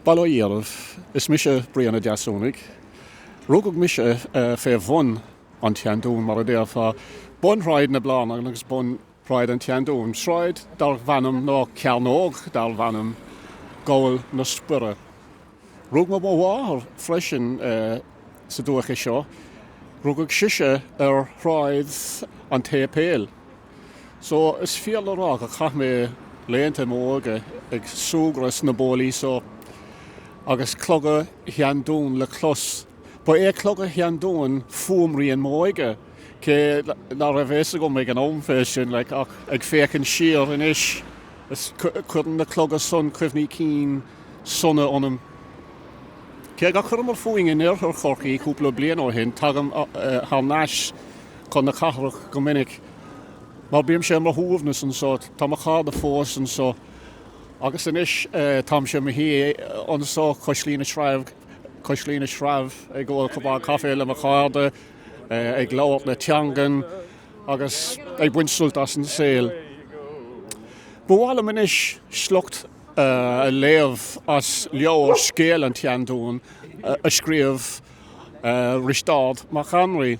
Bail ó Dhia oraibh, is mise Brian Ó Deasúnaigh. Rugadh mise fé bhun an tSeandúin, mar a déarfá, bun Shráid na Blarnan agus bun Shráid an tSeandúin, sráid darbh ainm, nó cearnóg darbh ainm, Gabhal na Spire. Rugadh mo mháthair freisin sa dúiche seo, rugadh sise ar Shráid an tSéipéil. So, is fíor le rá gur chaith mé laethanta m'óige ag súgradh sna bólaí so, agus cloga Sheandúin le clos. Ba é cloga Sheandúin fuaimrian m'óige, cé ná raibh fhios agam ag an am fé sin, like, ach ag féachaint siar anois, is, cuireann na cloga san cuimhní cinn sona ionam. Cé gur chuireamar fúinn in Iarthar Chorcaí cúpla bliain ó shin, tagaim thar n-ais chun na cathrach go minic. Mar bímse ar mo shuaimhneas anso, tá mo chairde fós anso. Agus anois táimse i mo shuí anso, cois Laoi na Sreabh, cois Laoi na Sreabh, ag ól cupán caife le mo chairde, ag labhairt na teangan agus ag baint sult as an saol. Ba mhaith liom anois sliocht a léamh as leabhar Scéal an tSeandúin a scríobh Risteárd Mac Annraoi.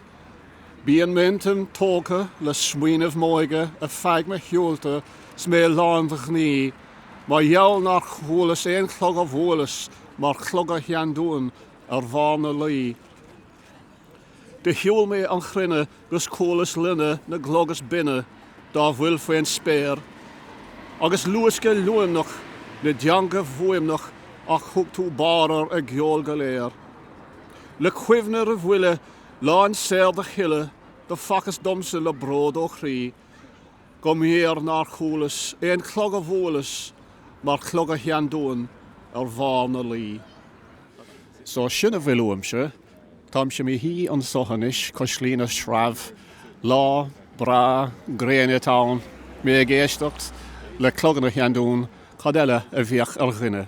Bíonn m'intinn tógtha le smaoineamh m'óige ar feadh mo shiúlta 's mé lán de ghnaoi mar gheall nár chualas aon chlog a bhuaileas mar chloga Sheandúin ar bharr na Laoi. Do shiúl mé an chruinne 'gus chualas loinne na gclog is binne dá bhfuil faoin spéir agus luascadh luaimneach na dteanga bhfuaimneach ach thug tú bárr ar a gceol go léir. Le cuimhne ar bhuille lán saor do chille do facthas domsa le bród ó chroí go mb'fhíor nár chualas aon chlog a bhuaileas mar chloga Sheandúin ar bharr na Laoi. So sin a bhfuil uaimse, táimse i mo shuí anso anois cois Laoi na Sreabh, lá breá gréine atá ann, mé ag éisteacht le cloganna Sheandúin, cad eile a bheadh ar dhuine?